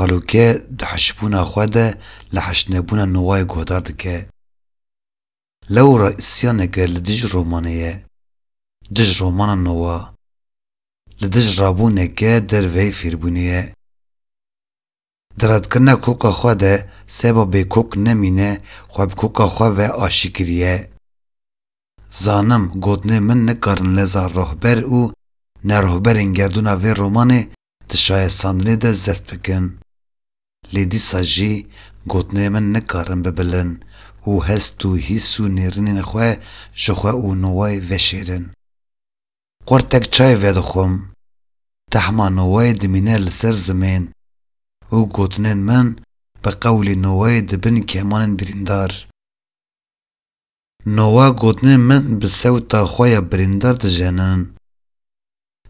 Taloke di hişbûna xwe de li heştnebûna Nowayê guhdar dike. Lewra îsyaneke li dij romanê ye. Dij romana Nowa. Li dij rabûneke derveyî fêrbûnê ye. Di redkirina koka xwe de seba bêkok nemîne xwe bi koka xwe ve aşî kiriye. Zanim gotinên min nikarin leza rihber û nerohberên gerdûna vê romanê di şayestandinê de zeft bikin. Lê dîsa jî gotinên min nikarin bibilin û hest û hîs û nêrînên xwe ji xwe û Nowayê veşêrin. Qurtek çayê vedixwim, tehma Nowayê dimîne li ser zimên û gotinên min bi qewlê Nowayê dibin kemanên birîndar. Nova gotinên min bi sewta xwe ya birîndar dijenin.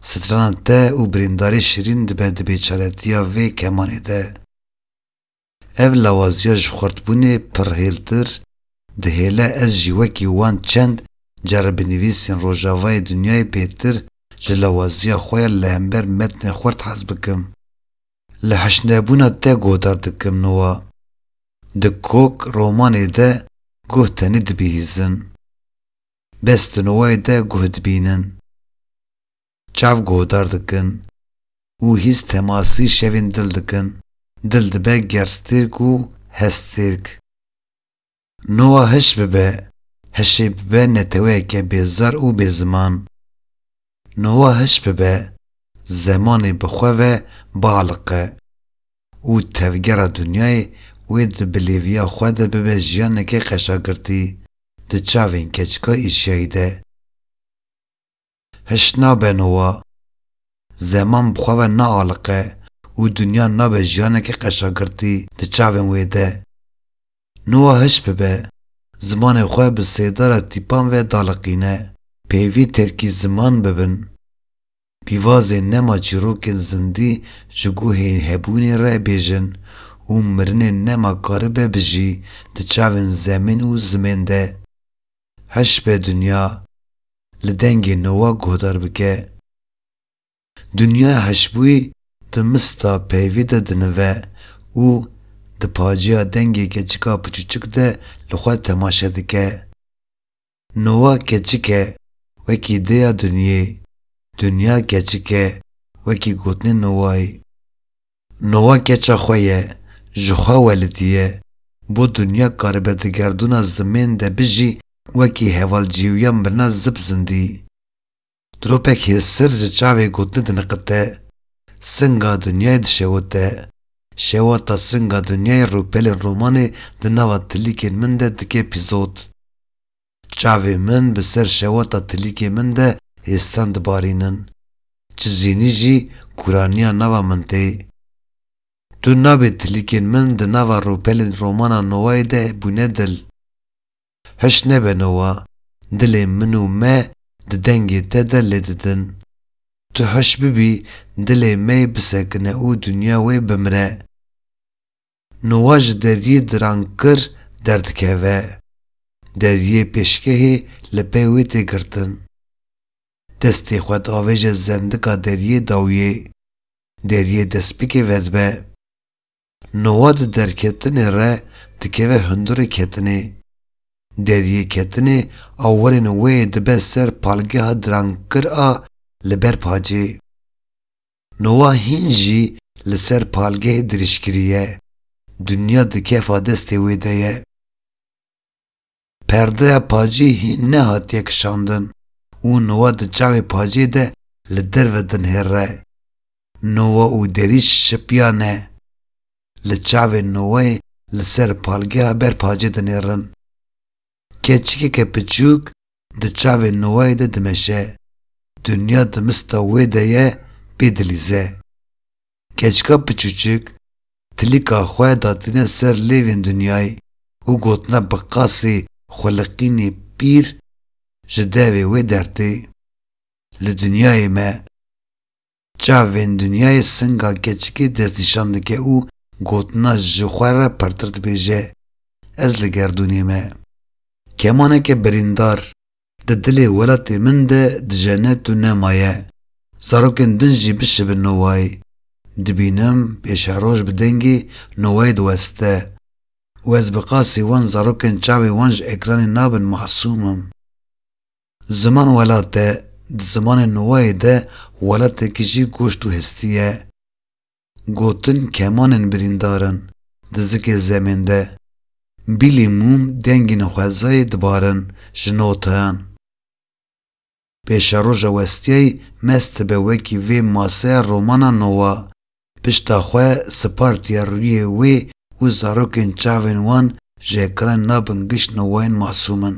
Strana te û birîndarî şirîn dibe di bêçaretiya vê kemanê de. Ev lawaziya ji xurtbûnê pir hêltir dihêle ez jî wekî wan çend care bi nivîsên rojavayê dinyayê bêtir ji lawaziya xwe ya li hember metnê xurt hez bikim. Li hişnebûna te godar dikim nuwa. Di kok romanê de guh tenê dibihîzin. Bes di nuwayê de guh dibînin. Çav godar dikin û hîs temasî şevên dil dikin. Dil dibe gerstêrk û hestêrk. Nowa hiş bibe, hişê bibe neteweyeke bêzar û bêziman. Nowa hiş bibe, zemanê bi xwe ve bialiqe û tevgera dinyayê wê di bilêviya xwe de bibe jiyaneke qeşagirtî di çavên keçika Îşyayî de. Hişt nabe nowa. Zeman bi xwe ve naaliqe û dinya nabe jiyaneke qeşagirtî di çavên wê de. Nowa hişt bibe, zimanê xwe bi sêdara tîpan ve daliqîne. Peyvî terkî ziman bibin. Pîvazê nema çîrokên zindî ji guhê hebûnê re bêjin û mirinê nema karibe bijî di çavên zemên û zimên de. Hişbê Dinya li dengê Nowak guhdar bike, Dinyaya Hişbûyî di mista peyvî de dinive û di paciya dengê keçika piçûçik de li xwe temaşe dike. Nowak keçik e, wekî dêya Dinyê, Dinya keçik e, wekî gotinê Nowayê. Nowa keça xwe ye, ji xwe welidiye, bo dinya karibe di gerdûna zimên de bijî wekî heval cîwya mirina zip zindî. Diropek hêsir ji çavê gotinê diniqite, singa dinyayê dişewite, şewata singa dinyayê rûpelên romanê di nava tilîkên min de dike pîzot. Çavê min bi ser şewata tilîkê min de hêstan dibarînin. Çi zînî jî kuraniya nava min tê. Tu nabê tilîkên min di nava rûpelên romana Nowayê de bûne dil. Hiş nebe Nowa, dilê min û me di dengê te de lê didin. Tu hiş bibî dilê me yê bisekine û dinya wê bimire. Nuwa ji deriyê Dirankir derdikeve. Deriyê pêşgehê li pey wê tê girtin. Destê xwe diavêje zendika deriyê dawiyê. Deriyê destpêkê vedibe. Nuwa di derketinê re dikeve hundirê ketinê. Deriyê ketinê awerên wê yê dibe ser palgeha Dirankir a li ber pacê. Nowa hîn jî li ser palgehê dirîj kiriye, dinya di kefa destê wê de ye. Perdeya pacê hîn nehatiye kişandin û nowa di çavê pacê de li derve dinhêre. Nowa û derîj şipiyane. Li çavê nowayê li ser palgeha ber pacê dinêrin. Keçikeke piçûk di çavê Noayê de dimeşe. Dinya di mista wê de ye pê dilîze. Keçika piçûçik tilîka xwe datîne ser lêvên Dinyayê û gotine bi qasê xwiliqînê pîr ji devê wê dertê. Li Dinyayê me. Çavên dinyayê singa keçikê destnîşan dike û gotina ji xwe re pirtir dibêje, Ez li gerdûnê me. Kemaneke birîndar, di dilê welatê min de dijene tu nemaye. Zarokên din jî bişibin Noway. Dibînim pêşeroj bi dengê Noway diweste û ez bi qasî wan zarokên çavên wan ji ekranê nabin masûmim. Ziman welat e, di zimanê Nowayê de welatekî jî goşt û hestî ye. Gotin kemanên birîndar in, di zikê zemên de, bîlî mûm dengên xwezayê dibarin ji notayan. Pêşeroja westiyayî mest dibe wekî vê maseya romana Nowa, pişta xwe sipartiye rûyê wê û zarokên çavên wan ji ekran nabin giş nowayên masûm in.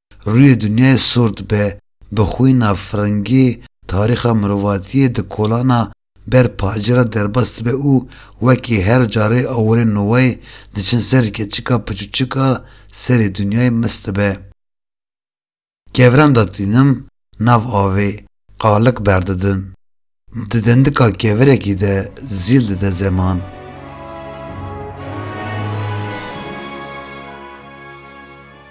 Rûyê dinyayê sor dibe, bi xwîna firingî tarîxa mirovatiyê di kolana ber pacê re derbas dibe û wekî her carê awirên nowayê diçin serî keçika piçûçik a serê dinyayê mis dibe. Kevirenda tînim nav avê qalik berdidin. Di dendika kevirekî de zîl dide zeman.